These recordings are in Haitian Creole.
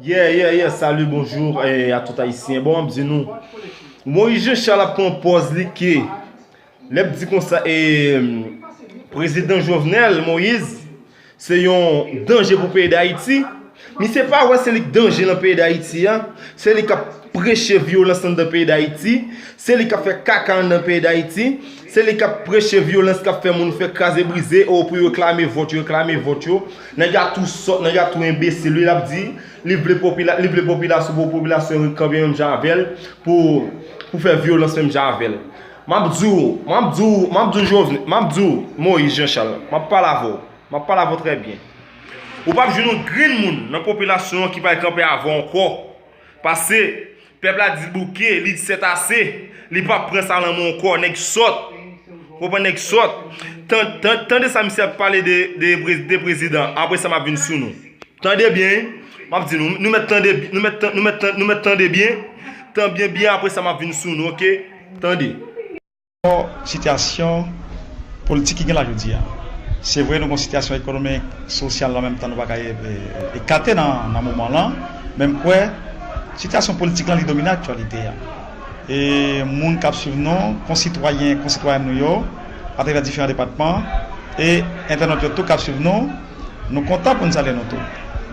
Yeah yeah yeah salut bonjour a tout ayisyen bon map di nou Moïse Jean Charles ap pran pòz li ke lèp di konsa e prezidan Jovenel Moïse se yon danje pou peyi d'Haïti misye pa wè se li ki danje nan peyi d'Haïti a se li kap preche vyolans anndan peyi d'Haïti se li kap fè kaka anndan peyi d'Haïti Se li kap preche vyolans kap fè moun fè kraze brize oo pou yo reklame vòt yo reklame vòt yo nèg la tou sòt nèg la tou enbesil wi lap di li vle popila li vle popilasyon pou popilasyon yo kanpe menm jan avèl pou pou fè vyolans menm jan avèl map di w map di w map di w jovnè map di w moyiz janchal map pale avè w map pale avè w trè byen ou pap jwenn yon grenn moun nan popilasyon an ki pral kanpe avè w ankò pase Pèp la di bouke, li di sètase, li pap pran sa lanmò ankò, nèg sòt, ou konprann nèg sòt, tande sa misye ap pale de prezidan, apre sa map vin sou nou, tande byen, map di nou, nou mèt tande, nou mèt tande, nou mèt tande byen, tande byen apre sa map vin sou nou ok, tande. Sitiyasyon politik ki gen la jodi a. Se vre nou gen yon sitiyasyon ekonomik, sosyal an menm tan nou pa ka ekate nan moman lan, men m kwè sitiyasyon politik lan li domine aktyalite a. E moun k ap swiv nou, konsitwayen, konsitwayèn nou yo atravè diferan depatman e entènot yo tou k ap swiv nou, nou kontan pou n salye nou tou.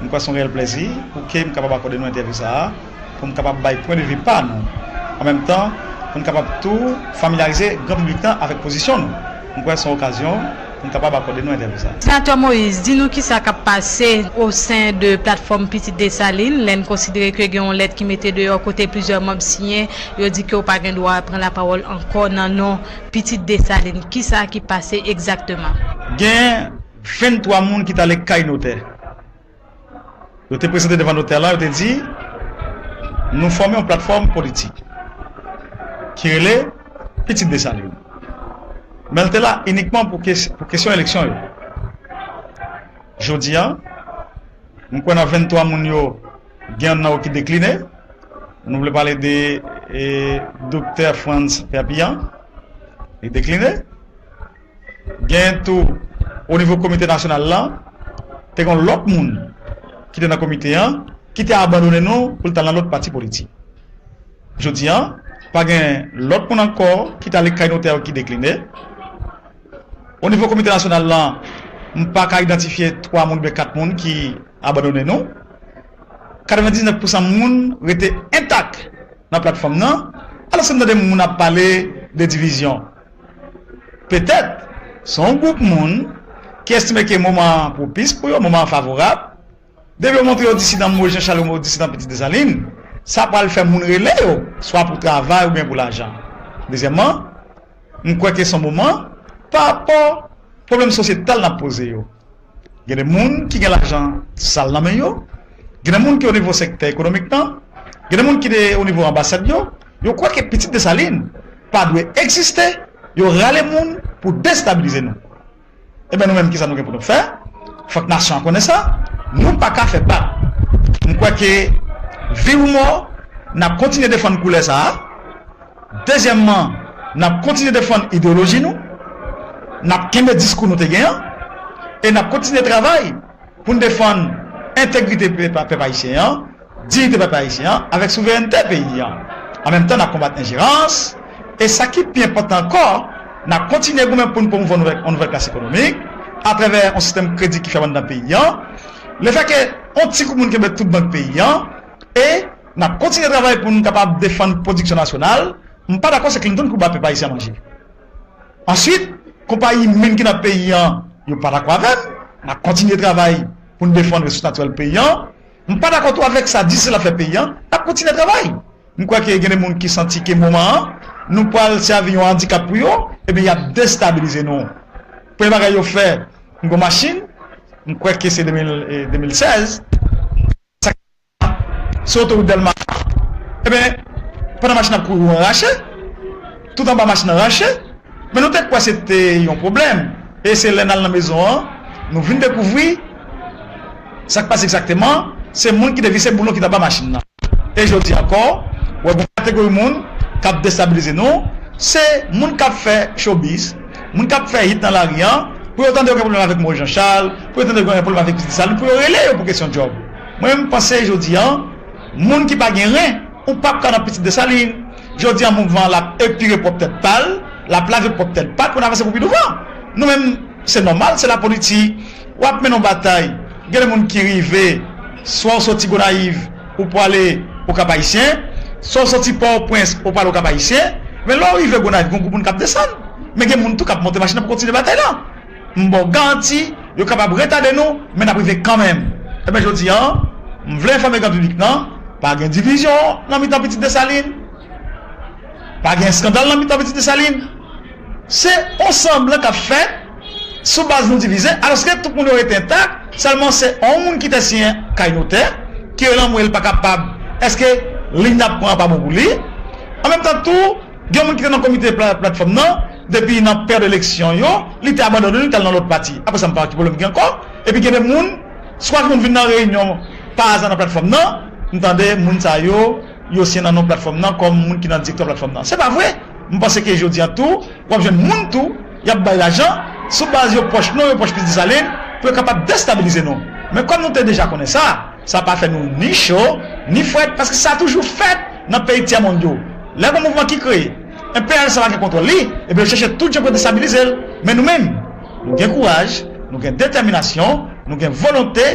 M kwè se yon reyèl plezi pou ke m kapab akòde nou entèvyou sa a. pou n kapab bay pwen de vi pa nou, an menm tan pou n kapab tou familyarize gran piblik lan avèk pozisyon nou. M kwè se yon okazyon pou n kapab akòde nou entèvyou sa. Senatè Moïse, di nou kisa k ap pase osen de Platfòm Pitit Desalin lè n konsidere ke gen yon lèt ki mete deyò kote plizyè manb siyen, yo di ke ou pa gen dwa pran lapawòl ankò nan non Pitit Desalin. Kisa ki pase egzakteman? Gen 23 moun ki t ale kay notè. Yo te prezante devan notè lan, yo te di, Nou fòme yon platfòm politik ki rele Pitit Desalin. Men l te la inikman pou kesyon eleksyon yo. Jodi a, m kwè nan 23 moun yo, gen youn nan yo ki dekline. Nou vle pale de Doktè Frantz Perpillan. Li dekline. Genyen tou, o nivo komite nasyonal lan, te gen yon lòt moun ki te nan komite an ki te abandone nou pou l t al nan lòt pati politik. Jodi an, pa gen lòt moun ankò ki t ale kay notè yo ki dekline. O nivo komite nasyonal lan, m pa ka idantifye twa moun oubyen kat moun ki abandone nou. 99 pousan moun rete entak nan platfòm nan, alòske m tande moun ap pale de divizyon. Petèt, se yon gwoup moun ki estime ke moman an pwopis pou yo, moman an favorab. Depi yo montre yo disidan mo Jan Chal yo disidan Pitit Desalin, sa pral fè moun rele yo, swa pou travay oubyen pou lajan. Dezyèmman, m kwè ke se yon moman, parapò pwoblèm sosyetal n ap poze yo, Gen de moun ki gen lajan sal nan men yo, gen de moun ki onivo sektè ekonomik nan, gen de moun ki de onivo anbasad yo, yo kwè ke pitit Desalin pa dwe egziste, yo rale moun pou destabilize nou. Enben nou menm kisa nou gen pou nou fè? Fòk nasyon an konnen sa, nou pa ka fè bak. M kwè ke viv ou mò, n ap kontinye defann koulè sa a. Dezyèmman, n ap kontinye defann ideyoloji nou, n ap kenbe diskou nou te gen an e n ap kontinye travay pou n defann entegrite pèp ayisyen an, diyite pèp ayisyen an avèk souverènte peyi an. An menm tan, n ap konbat enjerans e, sa ki pi enpòtan ankò, n ap kontinye goumen pou n pwomouvwa yon nouvèl klas ekonomik atravè yon sistèm kredi ki fyab anndan peyi an, lefèke yon ti gwoup moun kenbe tout bank peyi an e, N ap kontinye travay pou n kapab defann pwodiksyon nasyonal. M pa dakò se Clinton ki pou ba pèp ayisyen a manje. Answit, konpayi min ki nan peyi an, yo pa dakò avè m. N ap kontinye travay pou n defann resous natirèl peyi an. M pa dakò tou avèk sa Disneyland ap fè peyi an. N ap kontinye travay. M kwè ke gen de moun ki santi ke moman an, nou pral sèvi yon andikap pou yo, ebyen y ap destabilize nou. Premye bagay yo fè, m gen yon machin, m kwè ke se 2016, sa ki. Se otowout dèlma sa Ebyen pandan machin ap kouri ou an rache Tout anba machin an rache Men nou te kwè se te yon pwoblèm E se lè n al nan mezon an Nou vin dekouvri Sa k pase egzakteman Se moun ki te vise boulon ki t anba machin nan E jodi ankò Ou wè gon kategori moun K ap destabilize nou Se moun k ap fè chobiz Moun k ap fè hit nan lari an Pou yo tande yo gen pwoblèm avèk Moise Jean Charles Pou yo tande yo gen pwoblèm avèk Ti Desalin Pou yo rele yo pou kesyon djòb Mwen m panse jodi an moun ki pa gen ren ou pap ka nan pitit Desalin jodi an mouvman an lap epire pwòp tèt pal lap lave pwòp tèt pal pou n avanse pou pi douvan nou menm se nòmal se lapoliti wap mennen yon batay gen de moun ki rive swa w soti Gonayiv ou pwale Okap Ayisyen swa w soti Pòòpwens ou pwale Okap Ayisyen men lè w rive Gonayiv gen yon gwoup moun kap desann men gen moun tou kap monte machin nan pou kontinye batay lan. M ba w garanti, yo kapab retade nou, men n ap rive kanmenm. Enben jodi a, m vle enfòme gran piblik lan, pa gen divizyon nan mitan pitit Desalin, pa gen eskandal nan mitan pitit Desalin. Se on sanblan k ap fèt sou baz nou divize, alòske tout moun yo rete entak, sèlman se on moun ki te siyen kay notè, ki relanmwe l pa kapab, èske liy n ap pran an pa bon pou li? Anmenmtan tou. Gen moun ki te nan komite platfòm nan depi nan pèd eleksyon yo, li te abandone li tal nan lòt pati. Aprè sa m pa wè ki pwoblèm ki gen ankò. Epi gen de moun, swa ki konn vin nan reyinyon pa aza nan platfòm nan, m tande moun sa yo, yo siyen nan non platfòm nan kòm moun ki nan direktwa platfòm nan. Se pa vre! M panse ke jodi an tou, w ap jwenn moun tou, y ap bay lajan, sou baz yo pwòch nou, yo pwòch Minis Desalin, pou yo kapab destabilize nou. Men kòm nou te deja konnen sa, sa pa fè nou ni cho, ni frèt, paske sa toujou fèt! Nan peyi tyè mond yo, lè gon mouvman ki kreye, enperyalist la pa gen kontwòl li, ebyen yo chèche tout jan pou yo destabilize l. Men nou menm, nou gen kouraj, nou gen detèminasyon, nou gen volonte,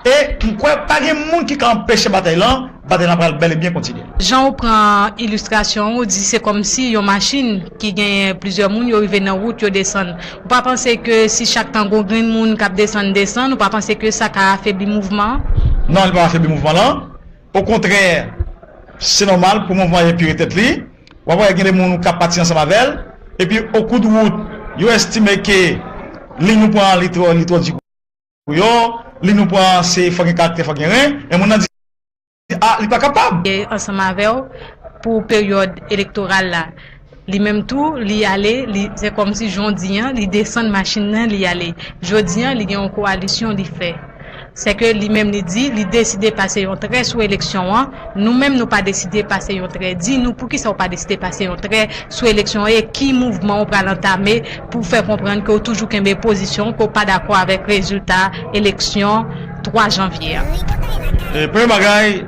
e m kwè pa gen moun ki ka anpeche batay lan, batay lan pral bèl e byen kontinye. Jan ou pran ilistrasyon an, ou di se kòmsi yon machin ki genyen plizyè moun, yo rive nan wout, yo desann. Ou pa panse ke si chak tan gon grenn moun k ap desann, desann, ou pa panse ke sa ka afebli mouvman an? Non, li p ap afebli mouvman lan. Okontrè, se nòmal pou mouvman an epire tèt li. W ap wè gen de moun k ap pati ansanm avè l. Epi, okou de wout, yo estime ke liy nou pran an li twò li twò di pou yo. Liy nou pran an se fò gen karaktè, fò gen ren. Men moun nan di a li pa kapab. Ansanm avè w pou peryòd elektoral la. Li menm tou li ale li se kòmsi jon di an li desann machin nan li ale jodi an li gen yon koalisyon li fè se ke li menm li di li deside pase yon trè sou eleksyon an nou menm nou pa deside pase yon trè di nou poukisa ou pa deside pase yon trè sou eleksyon an e ki mouvman ou pral antame pou w fè konprann ke w toujou kenbe pozisyon w ke w pa dakò avèk rezilta eleksyon 3 janvye an. Premye bagay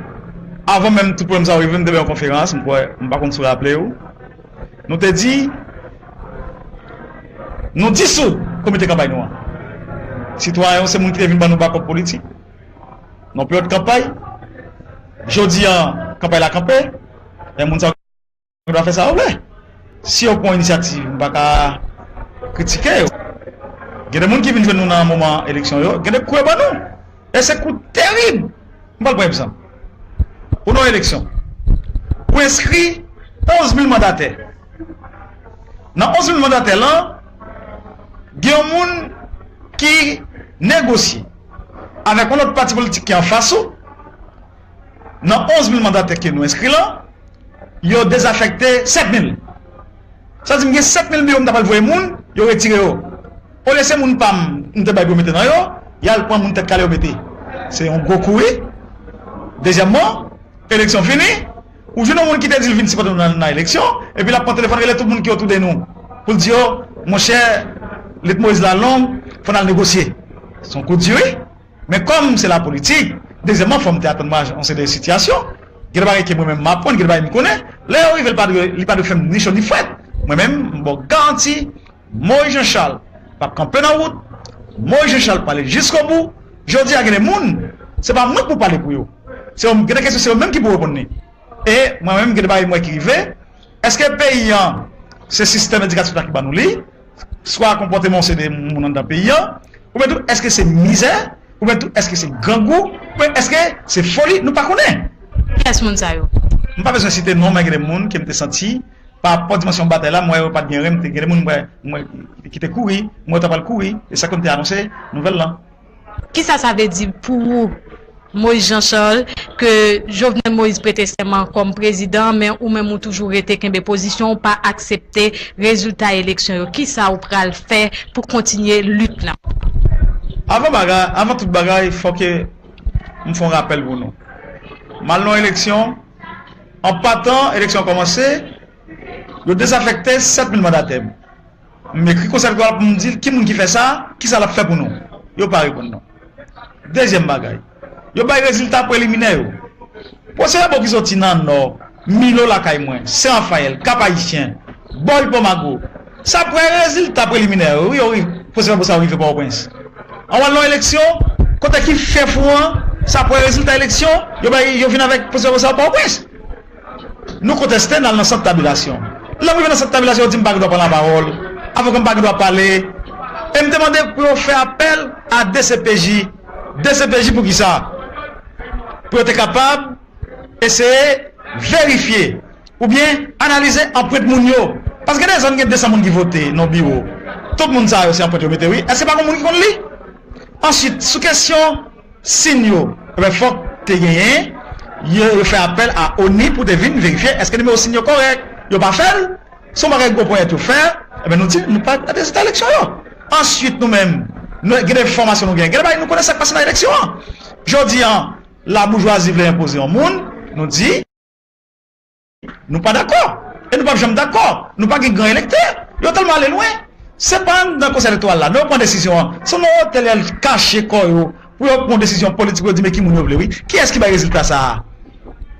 Avan menm tout pwoblèm sa yo rive, nou te fè yon konferans, m kwè, m pa konn si w raple w, nou te di, nou disoud komite kanpay nou an. Sitwayen yo se moun ki te vin ban nou bakòp politik nan peryòd kanpay. Jodi an, kanpay la kanpe, men moun sa yo. Yo dwa fè sa yo vle. Si yo pran inisyativ, m pa ka kritike yo. Gen de moun ki vin jwenn nou nan moman eleksyon yo, gen de kou yo ban nou. E se kou terib. M pral pran egzanp. Ou nan yon eleksyon. Ou enskri 11 mil mandatè. Nan 11 mil mandatè lan, gen yon moun ki negosye avèk yon lòt pati politik ki anfas ou, Nan 11 mil mandatè ke nou enskri lan, yo dezafekte 7 mil. Sa di m gen 7 mil biwo m ta pral voye moun, yo retire yo. Olye se moun pa m, m te bay pou yo mete nan yo, y al pran moun tèt kale yo mete. Se yon gwo kou wi. Dezyèmman, eleksyon fini, ou jwenn yon moun ki te di l vin sipòte nou nan eleksyon, epi l ap pran telefòn rele tout moun ki otou de nou, pou l di yo, monchè, lit Moyiz la long, fò n al negosye. Se yon kou di wi. Men kòm se lapolitik, dezyèmman fò m te atann m a yon seri de sitiyasyon. Gen de bagay ke mwen menm m aprann, gen de bagay m konnen, lè yo rive li pa dwe fè m ni cho ni frèt. Mwen menm m ba w garanti Moyiz Janchal p ap kanpe nan wout, Moyiz Janchal prale jiskobou. Jodi a gen de moun, se pa mwen k pou pale pou yo. Se yo, gen de kesyon se yo menm ki pou reponn li. E mwen menm gen de bagay m wè ki rive, èske peyi an se sistèm edikatif la ki ban nou li? swa konpòteman ou se de moun anndan peyi an, oubyen tou èske se mizè, oubyen tou èske se grangou, oubyen èske se foli, nou pa konnen. Kiyès moun sa yo? M pa bezwen site non men gen de moun ke m te santi pa rapò dimansyon batay la m wè yo pa t gen rèn m te gen de moun m wè ki te kouri m wè yo ta pral kouri e sa ke m te anonse nouvèl lan. Kisa sa vle di pou ou Moise Jean Charles ke Jovenel Moise prete sèman kòm prezidan men ou menm ou toujou rete kenbe pozisyon ou pa aksepte rezilta eleksyon yo kisa ou pral fè pou kontinye lit lan? Avan bagay, avan tout bagay fò ke m fè yon rapèl pou nou. M al nan yon eleksyon, an patan eleksyon an kòmanse, yo dezafèkte 7 mil mandatè m. M ekri konsèp li pral pou m di l ki moun ki fè sa, ki sa l ap fè pou nou. Yo pa reponn non. Dezyèm bagay, yo bay rezilta preliminè yo. Pwosè Ebo ki soti nan Nò, Milo lakay mwen, Sen Rafayèl, Kap Ayisyen, Bòy Pomago, se aprè rezilta preliminè yo wi yo ri, pwosè Ebo sa yo rive Pòtoprens. Anvan lò eleksyon, kote ki fè fou an, se aprè rezilta eleksyon, yo bay, yo vin avèk pwosè Ebo sa yo Pòtoprens. Nou konteste, n al nan sant tabilasyon. Lè m rive nan sant tabilasyon, yo di m pa gen dwa pran lapawòl, avoka m pa gen dwa pale e m te mande pou yo fè apèl a dcpj. Dcpj pou kisa? Pou yo te kapab eseye verifye oubyen analize anprent moun yo. Paske gen de zòn gen 200 moun ki vote nan yon biwo. Tout moun sa yo se anprent yo mete wi. Èske pa gen yon moun ki konn li? Ansuit, sou kesyon. Sin yo wè fòk te genyen, yo fè apèl a ONI pou te vin verifye èske nimewo sin yo kòrèk. Yo pa fè l, se yon bagay gwo ponyèt yo fè, enben nou di nou pa kwè nan rezilta eleksyon yo. Ansuit nou menm, nou gen de fòmasyon nou genyen, gen de bagay nou konnen sa k pase nan eleksyon an. Jodi a laboujwazi vle enpoze yon moun, nou di. Nou pa dakò e nou pap janm dakò. Nou pa gen gran elektè. Yo tèlman ale lwen. Se pa anndan Konsèy Elektoral la non yo pran desizyon an. Se nan otèl y al kache kò yo pou yo pran yon desizyon politik pou yo di men ki moun yo vle wi. Kiyès ki bay rezilta sa a?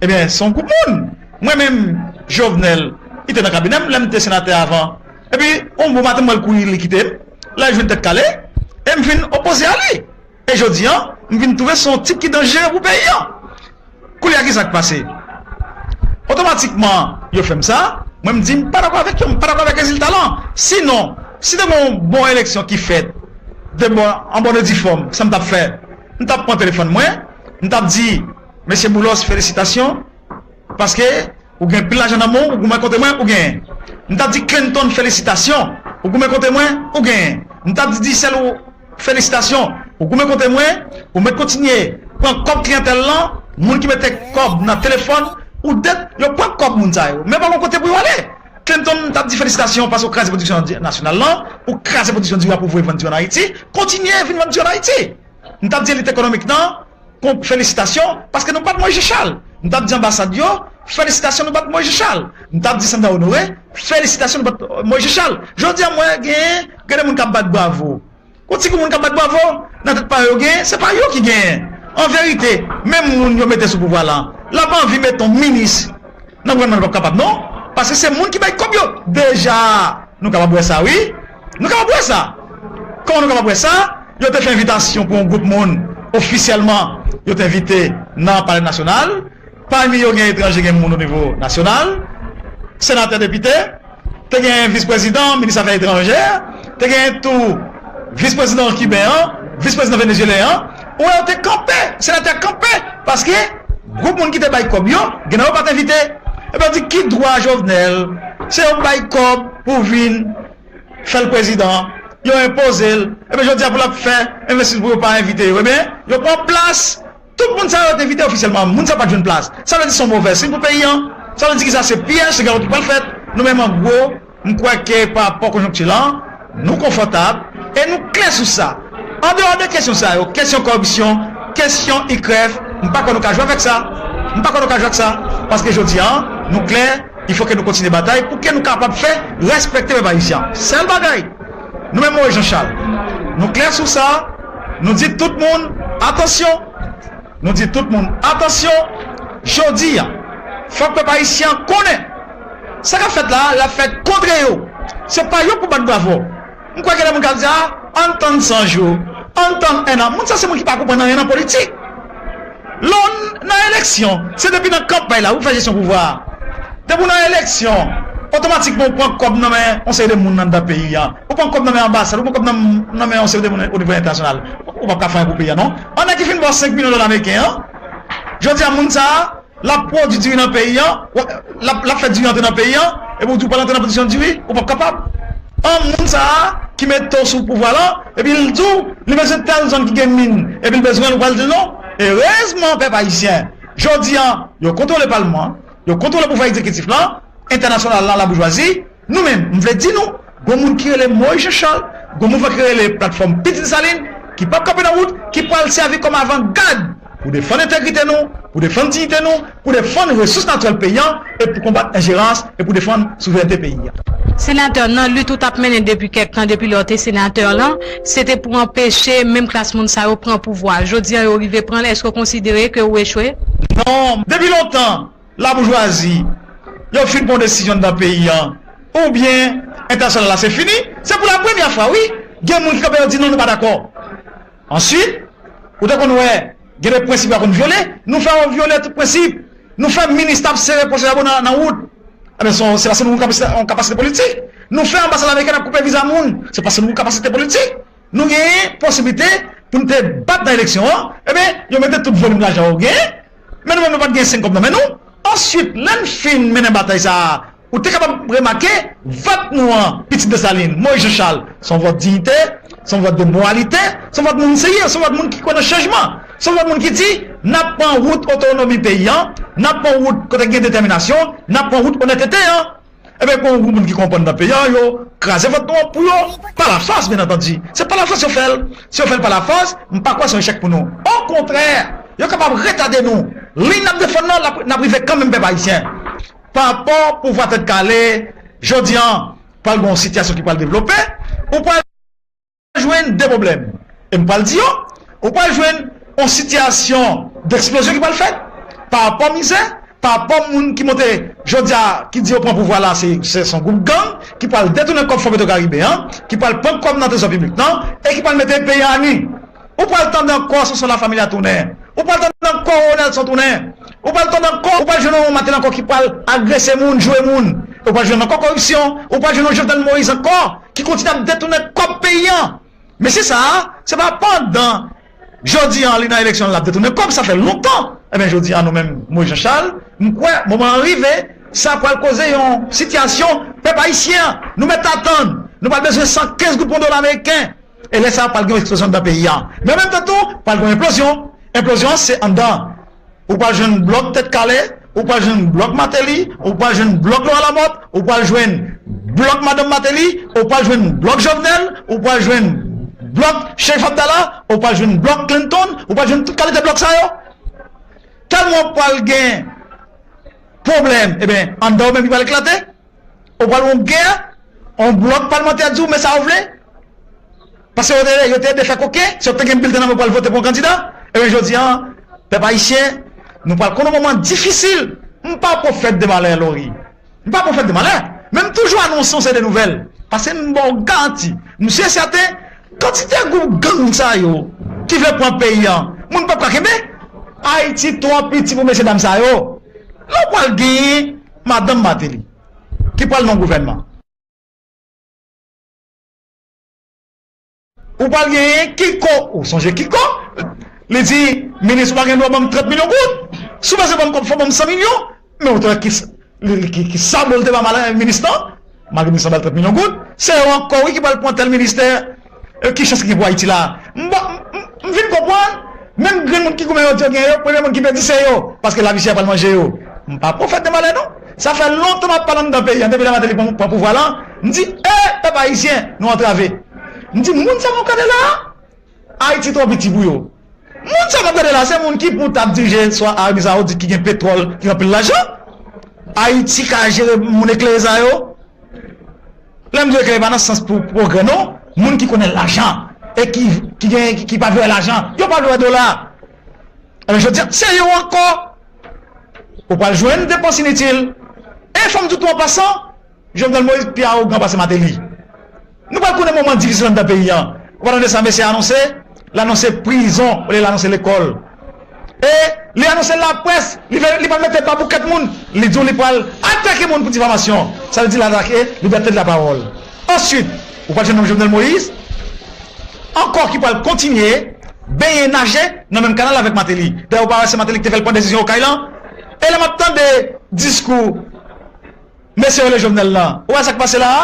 Ebyen se yon gwoup moun. Mwen menm Jovenel li te nan kabinè m lè m te senatè avan. Epi yon bon maten m wè l kouri li kite m. La li jwenn tèt kale e m fin opoze a li. E jodi an, m vin twouve se yon tit ki danjere pou peyi an. Koulye a ki sa k pase? Otomatikman, yo fè m sa, mwen m di m pa dakò avèk yo, m pa dakò avèk rezilta lan. Sinon, si te gen yon bon eleksyon ki fèt de bon an bòn e di fòm, sa m t ap fè? M t ap pran telefòn mwen, m t ap di, Mesye Boulos felisitasyon, paske, Ou gen pil lajan nan menw ou goumen kote mwen ou genyen m tap di clinton felisitasyon ou goumen kote mwen ou genyen m tap di dicel ou felisitasyon ou goumen kote mwen ou met kontinye pran kob kliyantel lan moun ki mete kob nan telefon ou det yo pran kob moun sa yo men pa gon kote pou yo ale clinton m tap di felisitasyon paske ou kraze pwodiksyon nasyonal lan ou kraze pwodiksyon diri wap ouvri vann diri an ayiti kontinye vin vann diri an ayiti. Nou tap di elit ekonomik nan kon felisitasyon paske nou bat Moise Charles. Nou tap di anbasad yo felisitasyon nou bat Moise Charles. Nou tap di Sandra Honoré felisitasyon nou bat Moise Charles. Jodi a m wè gen gen de moun kap bat bravo. Yon ti gou moun kap bat bravo nan tèt pa yo yo gen se pa yo ki genyen. An verite menm moun yo mete sou pouvwa lan lap anvi met yon minis nan gouvènman li pap kapab non paske se moun ki bay kòb yo deja nou kapab wè sa wi. Nou kapab wè sa. Kòman nou kapab wè sa? Yo te fè envitasyon pou yon gwoup moun ofisyèlman yo te envite nan Palè Nasyonal. Pami yo gen etranje, gen moun onivo nasyonal, senatè, depite. Te gen visprezidan, minis afè etranjè. Te gen tou visprezidan kiben an, visprezidan venezyelyen an. Ou wè yo te kanpe, senatè a kanpe paske gwoup moun ki te bay kòb yo gen nan yo pat envite. Epi yo di ki dwa Jovenel se yo bay kòb pou vin fèl prezidan, yo enpozel epi jodi a pou lap fè envestisman pou yo pa envite yo ebyen yo pran plas tout moun sa yo te envite ofisyèlman moun sa yo pat jwenn plas sa vle di son movè siy pou peyi an sa vle di ki sa se pyèj se gawo ki pral fèt nou menm an gwo M kwè ke pa rapò konjonkti la, nou konfòtab e nou klè sou sa. An deyò de kesyon sa yo, kesyon kòripsyon, kesyon IKRÈF, m pa kwè nou ka jwe avèk sa. M pa kwè nou ka jwe ak sa. Paske jodi a, nou klè, il fò ke nou kontinye batay pou ke nou kapab fè rèspèkte pèp ayisyen an. Sèl bagay, nou menm Moyiz Janchal, nou klè sou sa, nou di tout moun, atansyon! Nou di tout moun atansyon, jodi a, fòk pèp ayisyen an konnen, sa k ap fèt la a, l ap fèt kontre yo, se pa yo pou bat bravo. M kwè gen de moun k ap di, a, ann tann san jou, ann tann ennan. Moun sa se moun ki pa konprann anyen nan politik. Lè w nan eleksyon, se depi nan kanpay la pou w fè jesyon pouvwa a. Depi w nan eleksyon, otomatikman ou pran kòb nan men yon seri de moun anndan peyi a. Ou pran kòb nan men anbasad, ou pran kòb nan men yon seri de moun o nivo entènasyonal, ou pap ka fè anyen pou peyi a non. An nèg ki fin ba w 5 milyon dola meriken an, jodi a moun sa a, l ap pwodui diri nan peyi an, l ap fè diri antre nan peyi an, epi w di w pral antre nan pwodiksyon diri, ou pap kapab. An moun sa a ki mete w sou pouvwa lan, epi l di w li bezwen tèl zòn ki gen min, epi l bezwen l, ou pral di l non? Erezman pèp ayisyen, jodi a, yo kontwole palman an, yo kontwole pouvwa egzekitif lan, entènasyonal lan, laboujwazi, Nou menm, m vle di nou, gon moun ki rele Moïse Jean Charles, gon mouvman ki rele Platfòm Pit Desalin, ki pap kanpe nan wout, ki pral sèvi kòm avan gad pou defann entegrite nou, pou defann diyite nou, pou defann resous natirèl peyi an e pou konbat enjerans e pou defann souverènte peyi a. Senatè, nan lit ou tap mennen depi kèk tan, depi lè w te senatè lan, se te pou anpeche menm klas moun sa yo pran pouvwa. Jodi an yo rive pran l, èske w konsidere ke ou echwe? Non, depi lontan. Laboujwazi yo fin pran desizyon nan peyi an ou byen entènasyonal la se fini se pou la premyè fwa wi gen moun ki kanpe yo di non nou pa dakò answit ou te konn wè gen de prensip yo konn vyole nou fè yo vyole tout prensip nou fè minista ap sere pwòche jabon nan wout enben se se paske nou gen kapasite politik nou fè anbasad amerikèn ap koupe viza moun se paske nou gen kapasite politik nou gen posiblite pou nou te bat nan eleksyon an enben yo mete tout volim lajan yo gen Men nou menm nou pat gen senkob nan men nou. Answit lèn fin mennen batay sa a ou te kapab remake vòt nou an Pitit Desalin, Moyiz Janchal son vòt diyite, son vòt de moralite, son vòt moun serye, son vòt moun ki kwè nan chanjman, son vòt moun ki di nap pran wout otonomi peyi an, nap pran wout kote gen detèminasyon, nap pran wout onètete an. Ebyen gon group moun ki konprann nan peyi an yo kraze vant nou an pou yo pa la fòs byen antandi se pa la fòs yo fèl si yo fèl pa la fòs m pa kwè son echèk pou nou o kontrè yo kapab retade nou liy nap defann nan nap rive kanmenm pèp ayisyen pa rapò pouvwa tèt kale jodi an pral gon sitiyasyon ki pral devlope ou pral. pral jwenn 2 pwoblèm, e m pral di yo, ou pral jwenn yon sitiyasyon deksplozyon ki pral fèt, pa rapò mizè, pa rapò moun ki monte jodi a, ki di yo pran pouvwa la se yon gwoup gang ki pral detounen kòb Fon Petwokaribe an, ki pral pran kòb nan trezò piblik lan, e ki pral mete peyi a anu. Ou pral tande ankò Sonson Lafamilia tounen, ou pral tande ankò Roro Nelson tounen, ou pral tande ankò, ou pral jwenn yon Martel ankò ki pral agrese moun, joure moun, e ou pral jwenn ankò koripsyon, ou pral jwenn yon Jovenel Moïse ankò. ki kontinye ap detounen kòb peyi an. Mesye sa a, se pa pandan jodi an li nan eleksyon l ap detounen kòb, sa fè lontan. Enben jodi an nou menm, Moyiz Janchal, m kwè moman an rive, sa pral koze yon sitiyasyon pèp ayisyen an, nou mèt atann, nou pral bezwen 115 goud pou yon dola meriken. E lè sa a pral gen yon eksplozyon anndan peyi an. Men an menm tan tou, pral gen yon enplozyon. Enplozyon an se anndan. Ou pral jwenn blòk tèt kale, ou pral jwenn blòk Mateli, ou pral jwenn blòk Lora Lamòt, ou pral jwenn blòk madanm Mateli, ou pral jwenn blòk Jovnèl, ou pral jwenn blòk Chérif Abdala, ou pral jwenn blòk Clinton, ou pral jwenn tout kalite blòk sa yo. Tèlman ou pral gen pwoblèm, eben anndan ou menm li pral eklate. Ou pral yon gè, yon blòk palmantè di w men sa yo vle, pase yo te ede fè koken, se yo k te gen bilten nan men yo pral vote pou yon kandida, ebyen jodi an, pèp ayisyen, nou pral konn yon moman difisil. M pa pwofèt de malè Laurie, m pa pwofèt de malè, men m toujou anonse yon seri de nouvèl, pase m ba w garanti, m si e sèten, kantite gwoup gang sa yo ki vle pran peyi an, moun p ap ka kenbe. Ayiti twò piti pou mesye dam sa yo. Lè w pral genyen. Madanm Martelly ki pral nan gouvènman. Ou pral genyen Kiko, ou sonje Kiko? Li di, minis ou pa gen dwa banm 30 milyon goud. Si ou pase banm kòb fò banm 100 milyon. Men ou te wè ki ki sabò li te ba minis lan. Malgre minis lan ba l 30 milyon goud. Se yo ankò wi ki pral pran tèl ministè. E ki chans ki gen pou Ayiti la a? M pa, m fin konprann, menm grenn moun ki goumen yo di yo gen yo, premye moun ki pèdi se yo, paske lavi chè pral manje yo. M pa pwofèt de malè non. Sa fè lontan m ap pale anndan peyi an, depi lè Mateli pran pouvwa la, m di, E, pèp ayisyen, nou antrave. M di, moun sa nou kale la a, Ayiti twò piti pou yo. Moun sa map gade la se moun ki pou tap dirije swa Arabi Saoudit ki gen petròl ki gen anpil lajan Ayiti ka jere moun eklere sa yo lèm di eklere pa nan sans pou pwogrè non moun ki konnen lajan e ki pa vle wè lajan yo pa vle wè dola ebyen jodi se yo ankò ou pral jwenn depans initil e fòm di tou an pasan Jovenel Moïse pi arogan pase Mateli. Nou pral konnen moman difisil anndan peyi an. Ou pa tande sa mesye a anonse? L anonse prizon olye l anonse lekòl. E li anonse laprès, li pa mete babou kèt moun, li di w li pral atake moun pou difamasyon. Sa vle di l atake libète de lapawòl. Ansuit, ou pral jwenn yon Jovenel Moïse ankò ki pral kontinye benyen, naje nan menm kanal avèk Martelly. Dayè ou pa wè se Martelly ki te fè l pran desizyon Okay lan? E lè m ap tande diskou mesye yo rele Jovenel lan, ou wè sa k pase la a?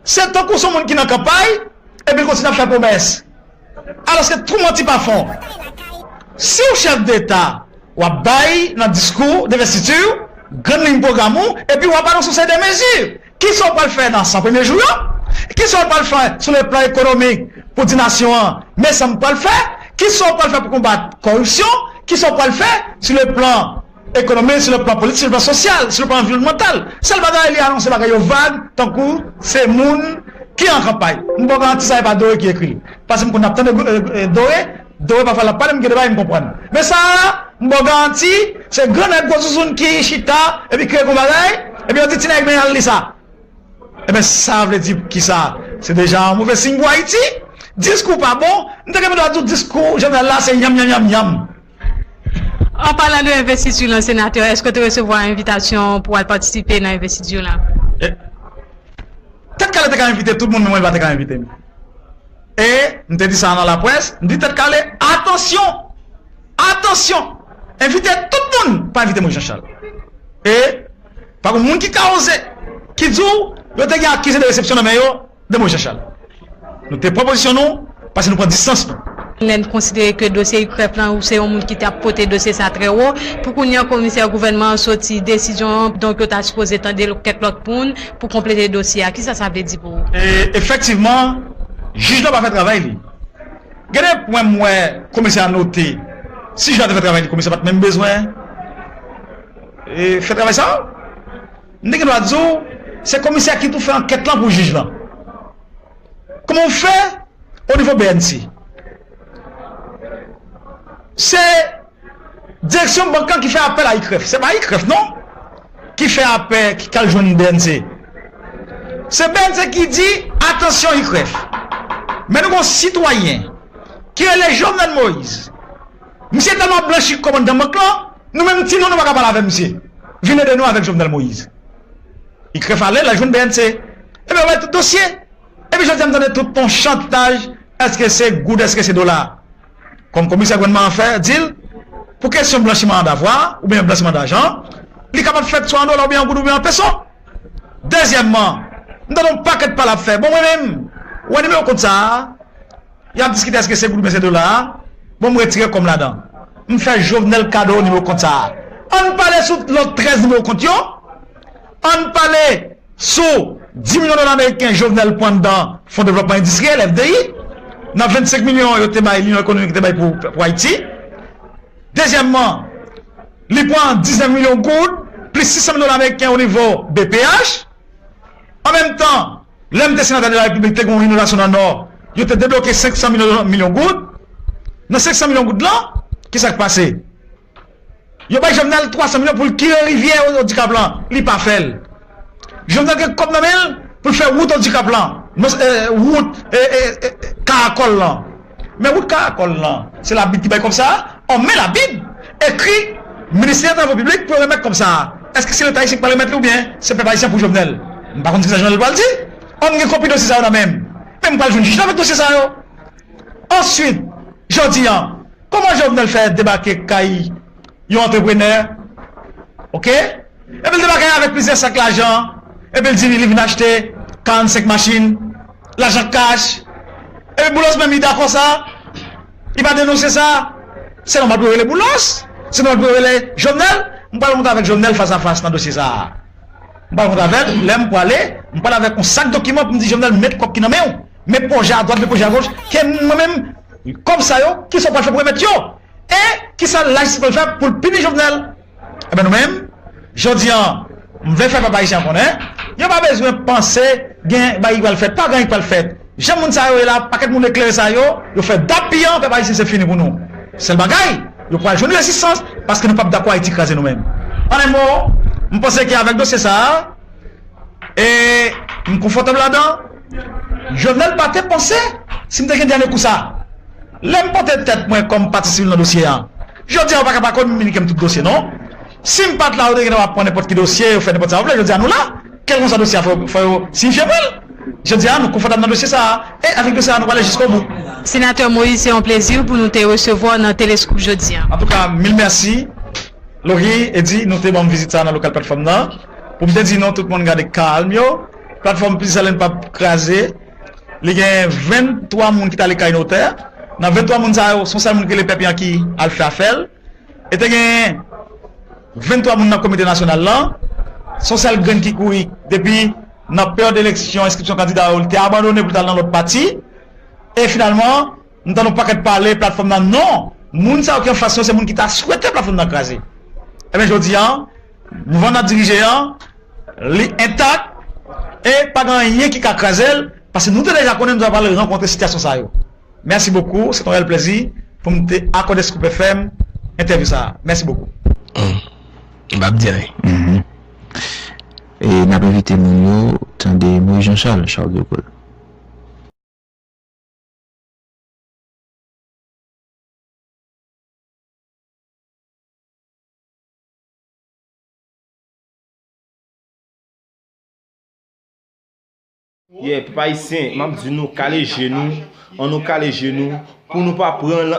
Se tankou son moun ki nan kanpay epi l kontinye ap fè pwomès. Alòske twou manti pa fon. Si w chèf deta, w ap bay nan diskou denvestiti w grann liy pwogram ou epi w ap anonse yon seri de mezi. Kisa w pral fè nan 100 premye jou yo? Kisa w pral fè sou le plan ekonomik pou w di nasyon an, men sa m pral fè? Kisa w pral fè pou konbat kòripsyon? Kisa w pral fè sou le plan. Ekonomi, sou le plan politik, sou le plan sosyal, sou le plan anviwònmantal. Sèl bagay li anonse bagay yo vag tankou se moun ki an kanpay. M ba w garanti sa e pa Dore ki ekri l. Pase m konn ap tande Dore, Dore pafwa l ap pale m gen de bagay m konprann. Men sa a, m ba w garanti, se gran nèg gwo zouzoun ki chita epi kreye gwo bagay, epi yo di ti nèg men al li sa. Enben sa vle di pou kisa? Se deja yon move siy pou Ayiti. Diskou pa bon, m te gen pou ta di w diskou Jovenel la se yanm yanm yanm yanm. An palan de envestiti lan senatè eske w te resevwa envitasyon pou al patisipe nan envestiti lan? Tèt kale te ka envite tout moun men mwen li pa te ka envite m. E m te di sa nan laprès, m di tèt kale atansyon! Atansyon! Envite tout moun pa envite mwen Janchal. E pa gen moun ki ka oze ki di w yo te gen akize de resepsyon nan men yo. De mo Jean-Charles. Nou te pran pozisyon nou pase nou pran distans nou. Lè n konsidere ke dosye UCREF lan ou se yon moun ki t ap pote dosye sa trè wo. Pou kounye an komisè gouvènman an soti desizyon an donk yo ta sipoze tande kèk lòt moun pou konplete dosye a. Kisa sa vle di pou ou? Efektivman jij la pa fè travay li. Gen de pwen m wè komisè a note. Si jij la te fè travay li komisè pa t menm bezwen fè travay sa a. M te gendwa di w se komisè ki tou fè ankèt lan pou jij lan. Kouman w fè o nivo bnc? Se direksyon bank lan ki fè apèl a ICREF. Se pa ICREF non ki fè apè ki al jwenn bnc. Se bnc ki di atansyon ICREF. Men nou gen yon sitwayen ki rele Jovenel Moïse. Misye tèlman ap blanchi kòmanndan mank lan, nou menm ti nou nou pa ka pale avè misye. Vin ede nou avèk Jovenel Moïse. Li krèf ale, lal jwenn bnc. Ebyen wè tout dosye. Epi jodi a m tande tout on chantaj èske se goud èske se dola. Kòm komisè gouvènman an fè di l, pou kesyon blanchiman an davwa oubyen blanchiman dajan an, li kapab fèt swa an dola oubyen an goud oubyen an peso. Dezyèmman, m tande on pakèt pale ap fè. Bon mwen menm, wè nimewo kont sa a. Yap diskite eske se goud oubyen se dola a, bon m retire kòm ladan. M fè Jovenel kado nimewo kont sa a. Ann pale sou lòt 13 nimewo kont yo, ann pale sou 10 milyon dola meriken Jovenel pwan nan Fon Devlòpman Endistriyèl, FDI, nan 25 milyon yo te bay linyon ekonomik yo te bay pou Ayiti. Dezyèmman, li pwan 19 milyon goud plis 600 mil dola meriken o nivo BPH. An menm tan. Lè m te senatè de la Repiblik, te gen yon inondasyon nan Nò, yo te debloke 500 milyon goud. Nan 500 milyon goud lan, ki sa k pase? Yo bay Jovenel 300 milyon pou l kire rivyè Odikap lan, li pa fè l. Jovenel gen kòb nan men l pou l fè wout Odikap lan, wout Karakòl lan. Men wout karakòl lan, se labib ki bay kòb sa a? Ò men labib ekri ministè travo piblik pou yo remèt kòb sa a. Eske se leta ayisyen ki pral remèt li oubyen se pèp ayisyen pou Jovenel? M pa konn kisa Jovenel pral di. Ò m gen kopi dosye sa yo nan men m. Men m pral jwenn jij la avèk dosye sa yo. Answit, jodi an, kòman Jovenel fè debake kay. yon antreprenè, ok, epi l debake avèk plizyè sak lajan, epi l di li vin achte 45 machin, lajan kach, epi Boulos menm li dakò sa, li pa denonse sa, se nòmal pou yo rele Boulos, se nòmal pou yo rele Jovenel, m pral rankontre avèk Jovenel fas a fas nan dosye sa, m pral rankontre avèl, lè m prale, m pral avèk yon sak dokiman pou m di Jovenel met kòb ki nan men w, met pwojè a dwat, met pwojè a goch, ke mwen menm, kòb sa yo, kisa w pral fè pou remèt yo? E kisa la jistis pral fè pou l pini Jovenel? Enben nou menm, jodi an, m vle fè pèp ayisyen an konnen, yo pa bezwen panse gen bagay ki pral fèt, pa gen anyen ki pral fèt. Jan moun sa yo ye la, pakèt moun eklere sa yo, yo fè dappiyan pèp ayisyen se fini pou nou. Sèl bagay, yo pral jwenn rezistans paske nou p ap dakò Ayiti kraze nou menm. An en mo, m panse ke avèk dosye sa a, e m konfòtab ladan, Jovenel pa te panse si m te gen dènye kou sa. Lè m pote tèt mwen kòm pati sivil nan dosye an. Jodi a ou pa ka pa kominike m tout dosye non. Si m pat la yo te gentan ap pran nenpòt ki dosye, yo fè nenpòt sa yo vle. Jodi a nou la, kèlkonsa dosye a fò yo siyifye mwen l. Jodi a nou konfòtab nan dosye sa a e avèk dosye sa a nou prale jiskobou. Senatè Moïse se yon plezi pou nou te resevwa w nan Telescoop jodi a. Antouka mil mèsi Laurie, Eddy nou te ban m vizit sa a nan lokal platfòm nan pou m te di nou tout moun gade kalm yo. Platfòm Plis Zèlenn pap kraze, li gen 23 moun ki t ale kay notè, nan 23 moun sa yo son sèl moun ki rele Pèp Yanki al fè afè l e te gen 23 moun nan komite nasyonal lan, son sèl grenn ki kouri depi nan peryòd eleksyon enskripsyon kandida yo li te abandone pou l t al nan lòt pati e finalman M tande yon pakèt pale platfòm nan non moun sa yo ki anfas yo se moun ki ta swete platfòm nan kraze ebyen jodi an mouvman nap dirije an li entak e pa gen anyen ki ka kraze l paske nou te deja konnen nou ta pral rankontre sitiyasyon sa yo mèsi bokou se t yon rèl plèzi pou m te akòde Scoop FM entèvyou sa mèsi bokou. Humm bab di anyen. Humm e nap envite moun yo tande Moise Jean Charles Charles de Gaulle. Ye pèp ayisyen map di nou kale je nou an nou kale je nou pou nou pa pran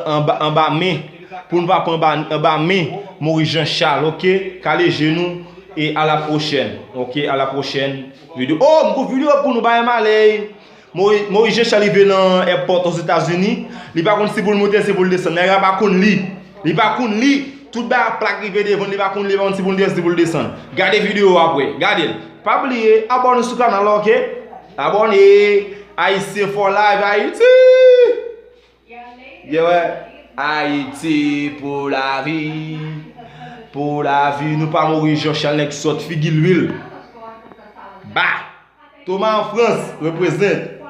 anba men pou nou pa pran anba men moris jan chal ok kale je nou e a la pwochèn ok a la pwochèn videyo oh m gen yon videyo pou nou bae m ale Moise Jean Charles rive nan èpòt ozetazini li pa konn si poul moute si poul desann nèg la pa konn li li pa konn li tout bagay ap plak rive devanl li pa konn li li pa konn si poul moute si poul desann gade video a aprè gadel pa bliye abòne sou kanal la ok abòne ayisyen for life ayiti. Ye wè Ayiti pou lavi pou lavi nou pa mouri Jean Charles nèg sòt figi lwil ba Thomas an France represent.